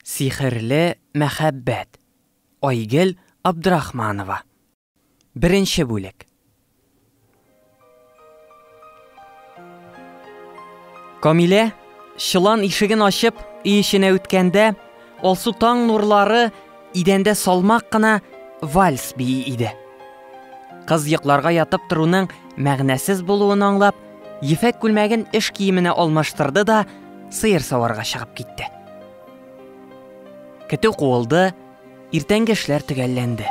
Сихерле мәхәббәт, Айгөл Абдрахманова. Беренче бүлек. Камилә, чолан ишеген ачып, өй эченә үткәндә, алсу таң нурлары идәндә салмак кына вальс бии иде. Кыз йокларга ятып торуның мәгънәсез булуын аңлап, ефәк күлмәген эш киеменә алмаштырды да, сыер саварга чыгып китте. Көтү куылды, иртәнге эшләр төгәлләнде.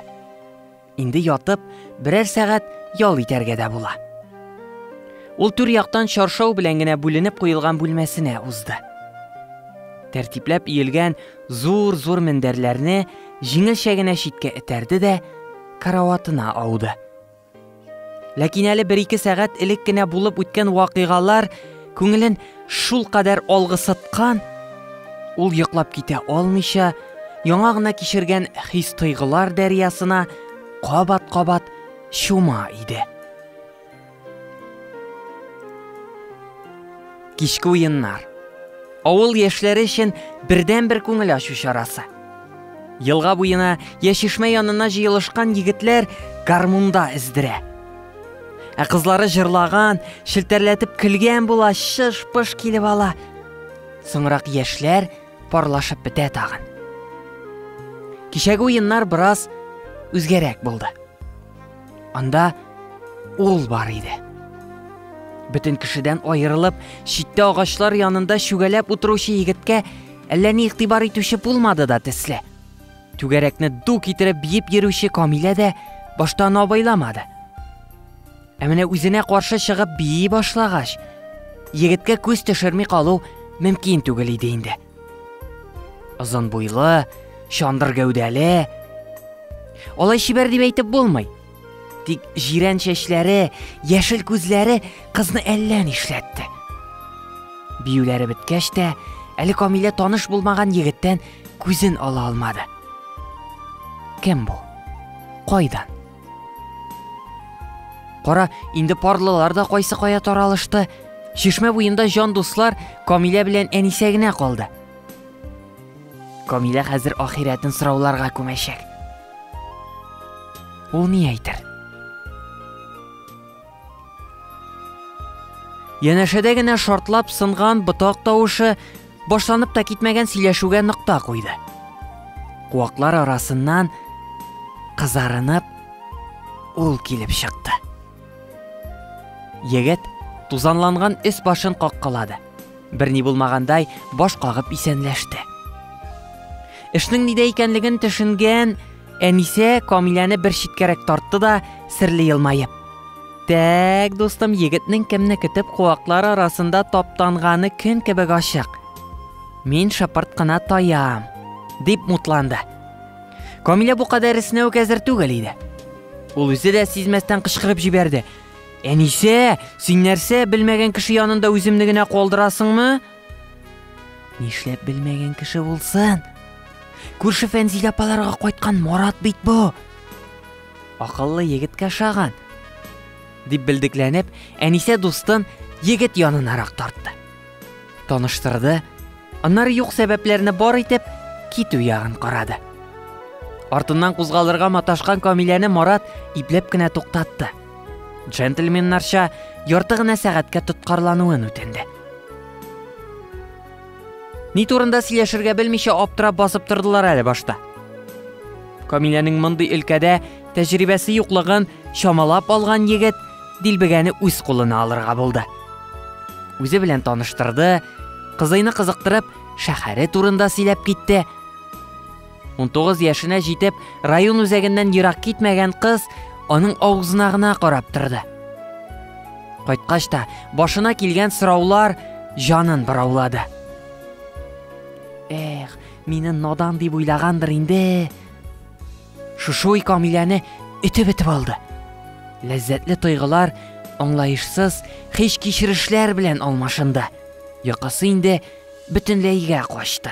Инде ятып, берәр сәгать ял итәргә дә була. Ул түр яктан чаршау белән генә бүленеп куелган бүлмәсенә узды. Тәртипләп иелгән зур-зур мендәрләрне җиңелчә генә читкә этәрде дә караватына ауды. Ләкин әле бер-ике сәгать элек кенә булып үткән вакыйгалар күңелен шул кадәр алгысыткан, ул йоклап китә алмыйча, яңа гына кичергән хис-тойгылар дәрьясына кабат-кабат чума иде. Кичке уеннар. Авыл яшьләре өчен бердәнбер күңел ачу чарасы. Елга буена, я чишмә янына җыелышкан егетләр гармунда эздерә. Ә кызлары җырлаган, челтәрләтеп көлгән була, шыш-пыш килеп ала. Соңрак яшьләр парлашып бетә тагын. Кичәге уеннар бераз үзгәрәк булды. Анда ул бар иде. Бөтен кешедән аерылып, читтә агачлар янында чүгәләп утыручы егеткә әллә ни игътибар итүче булмады да төсле. Түгәрәкне ду китереп биеп йөрүче Камилә дә башта аны абайламады. Ә менә үзенә каршы чыгып бии башлагач, егеткә күз төшерми калу мөмкин түгел иде инде. Озын буйлы, чандыр гәүдәле. Алай чибәр дип әйтеп булмый. Тик җирән чәчләре, яшел күзләре кызны әллә нишләтте. Биюләре беткәч тә, әле Камилә таныш булмаган егеттән күзен ала алмады. Кем бу? Кайдан? Кара, инде парлылар да кайсы кая таралышты. Чишмә буенда җан дуслар Камилә белән Әнисә генә калды. Камилә хәзер ахирәтен сорауларга күмәчәк. Ул ни әйтер? Янәшәдә генә шартлап сынган ботак тавышы башланып та китмәгән сөйләшүгә нокта куйды. Куаклар арасыннан кызарынып ул килеп чыкты. Егет тузанланган өс башын каккалады. Берни булмагандай баш кагып исәнләште. Эшнең нидә икәнлеген төшенгән Әнисә Камиләне бер читкәрәк тартты да, серле елмаеп. Тәк, дустым, егетнең кемне көтеп куаклар арасында таптанганы көн кебек ачык. Мин шапырт кына таям, дип мутланды. Камилә бу кадәр иснәү әзер түгел иде. Ул үзе дә сизмәстән кычкырып җибәрде. Әнисә, син нәрсә, белмәгән кеше янында үземне генә калдырасыңмы? Нишләп белмәгән кеше булсын? Күрше Фәнзилә апаларга кайткан Марат бит бу. Акыллы егеткә шаган. Дип белдекләнеп, Әнисә дустын егет янынарак тартты. Таныштырды, аннары юк сәбәпләрне бар итеп, китү ягын карады. Артыннан кузгалырга маташкан Камиләне Марат ипләп кенә туктатты. Джентльменнарча ярты гына сәгатькә тоткарлануын үтенде. Ни турында сөйләшергә белмичә аптырап басып тордылар әле башта. Камиләнең мондый өлкәдә тәҗрибәсе юклыгын чамалап алган егет дилбегәне үз кулына алырга булды. Үзе белән таныштырды, кызыйны кызыктырып, шәһәре турында сөйләп китте. 19 яшенә җитеп, район үзәгеннән ерак китмәгән кыз аның авызына гына карап торды. Кайткач та башына килгән сораулар җанын бораулады. Эх, мине надан дип уйлагандыр инде. Шушуй Камиләне итеп итеп алды. Ләззәтле тойгылар аңлаешсыз хиш кичерешләр белән алмашынды. Якасы инде бөтенләйгә качты.